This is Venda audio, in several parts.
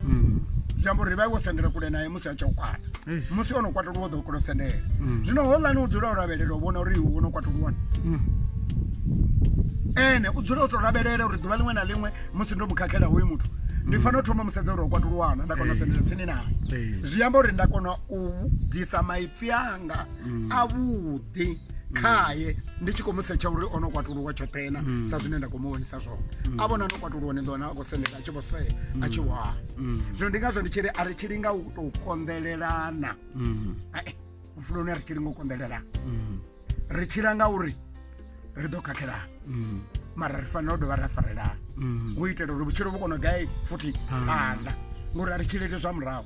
mm. zwi amba uri vha wo sendela kule naye musi a tshi u kwata musi o no kwatuluwa o ḓo kula u sendela mm. zwino holani u dzula u lavhelela u vhona uri iwe wo no kwatuluwa mm. ene u dzula u to lavhelela uri ḓuvha ḽiṅwe na ḽiṅwe musi ndo mu khakhela hoyu muthu ndi fanela u thoma musedza uri o kwatuluwana nda kona u sendela tsini naye zwi amba uri nda kona u bvisa maipfi anga avhuḓi khaye ndi tshi khou mu setsha uri o no kwatuluwa tshoṱhena sa zwine nda khou mu vhonisa zwone a vhona no kwatuluwa ni ḓo wana a khou sendela tshi vho sea a tshi vho a zwino ndi ngazwo ndi tshi ri a ri tshi linga u tou konḓelelana Ae, vhupfuloni a ri tshi linga u konḓelelana ri tshila nga uri ri ḓo khakhelana mara ri fanela u dovha ra farelana u itela uri vhutshilo vhu kone u gai futhi phanḓa ngori a ri tshilete zwa murahu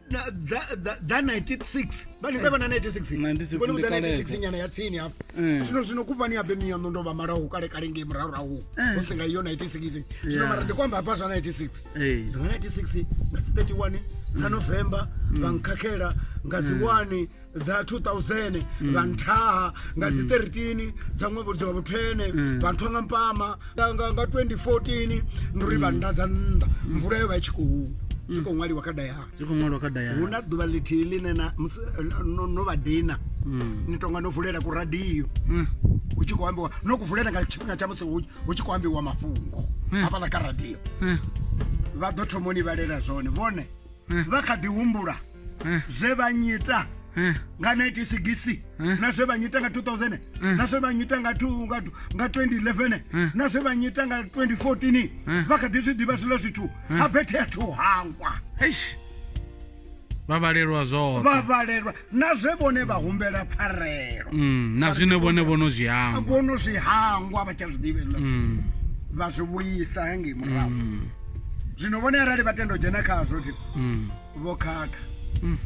Na- dza dza- dza 96 vani vhe vha na 96 96 Vhone vha ndi dza kalesa. 96 nyana ya tsini hafha Eh. zwino zwino kuvhani ya bemiya ndo ndo vha malaho kale kale ngei murahurahu hu si nga iyo 96 zwino Yeah. mara ndi kwamba hafha zwa 96 Eh. ndi nga 96 nga dzi 31 dza novemba vha nkhakhela nga dzi 1 dza 2000 mm. vha nthaha nga dzi 13 mm. dza ṅwevho dza vhu 10 mm. vha nthwa nga mpama nga nga 2014 nduri vha nda dza nnḓa mvula yo vha i tshi khou zwi khou ṅwaliwa kha dayari zwi khou ṅwaliwa kha dayari hu na ḓuvha ḽithihi ḽine na no vha dina ni tonga no vulela ku radio hu tshi khou ambiwa no ku vulela nga tshifhinga tsha musi hu tshi khou ambiwa mafhungo hafhaḽa kha radio vha ḓo thomoni vhalela zwone vhone vha kha ḓi humbula Eh. zve vha nyita eh. nga 1960 eh. na zve vha nyita nga 2000 na zve vha nyita nga 2011 na zve vha nyita nga 2014 vha kha ḓi zwi ḓivha zwilo zwithu ha bethe a thu hangwa vha vhalelwa zwoṱhe vha vhalelwa na zwe vhone vha humbela pfarelo mm, na zwine vhone vhono zwi hangwa vhono zwi hangwa vha tsha zwi ḓivhelwa mm. vha zwi vhuyisa hangei murahu mm. zwino vhone arali vha tenda u dzhena khazwo thi vho khakha mm.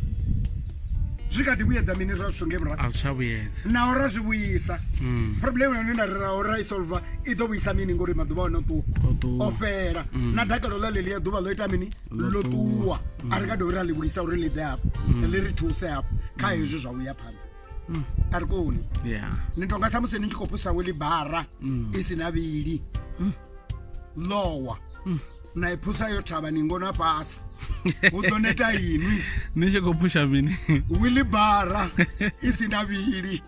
zwi kha ḓi vhuyedza mini ra zwithu nge muraazwitshavhuyedza naho ra zwi vhuyisa mm. problem yone nda reraho ra i solva i ḓo vhuyisa mini ngori maḓuvha one ṱuwa o fhela mm. na dakalo ḽa ḽeḽi ya ḓuvha ḽo ita mini ḽo ṱuwa a ri nga dovhi ra ḽi vhuyisa uri ḽi ḓe hafho ḽi ri thuse hafho kha hezwi zwa vhuya phanḓa a ri koni ni tonga sa musi ni tshi khou pusa weli bara i si na vhili lowa munaiphusa yo thavha ni ngona fhasi hu ḓo neta inwi ni tshi khou phusha mini wilibara i si na vhili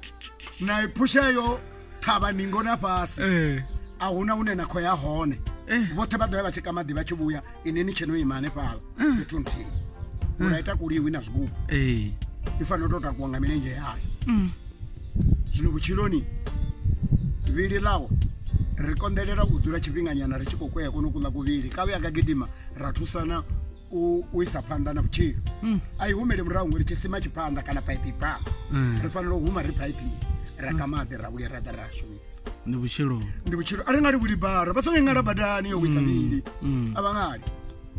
naiphusha yo thavha ni ngona fhasi eh. a huna hune na khou ya hone eh. vhoṱhe vha ḓo ya vha tshi kamaḓi vha tshi vhuya ine ni tsheno ima hanefhala eh. fhethu nthihi ura ita kuliwi na zwigubu i fanela u tou takuwa nga milenzhe yayo mm. Zwino vhutshiloni vhili ḽawe ri konḓelela u dzula tshifhinganyana ri tshi khou kwea kono kuḽa kuvhili kavhe aka gidima ra thusana u isa phanḓa na vhutshilo hmm. a i humele murahu ngori tshisima tshi phanḓa kana paipi pa hmm. ri fanela u huma ri paipi ra ka maḓi ra vhuya ra ḓa ra shumisa ndi vhutshilo ndi vhutshilo a ri nga livhuli bara vha songo ingala badani yo wisa vhili hmm. a vha ngali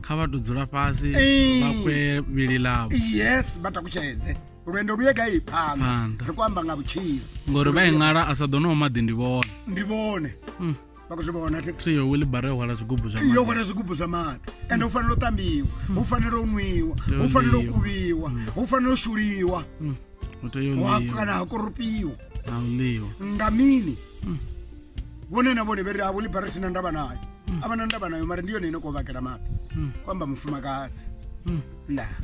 kha vha to dzula fhasi vha kwe vhili ḽavho yes vha takutshedze lwendo lu ye gai phanḓa Phanḓa. ri khou amba nga vhutshilo ngori vha iṅala a sa ḓo no maḓi ndi vhone ndi vhone Mm. vha khou zwi vhona thi thi yo wilibara yo hwala zwigubu zwa yo maḓi hwala zwigubu zwa maḓi ende hu fanela u ṱambiwa hu fanela u nwiwa hu fanela u kuvhiwa hu fanela u shuliwa Mm. u tea u hu ha- ḽiwa kana ha korupiwa na u ḽiwa nga mini vhone na vhone vheri havho libara thina ndavha nayo a vha na ndavha nayo mara ndi yone ine koo vhakela maḓi Mm. ku amba mufumakadzi Mm. ndaa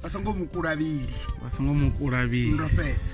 vha songo mu kulavhili vha songo mu kulavhili ndo fhedza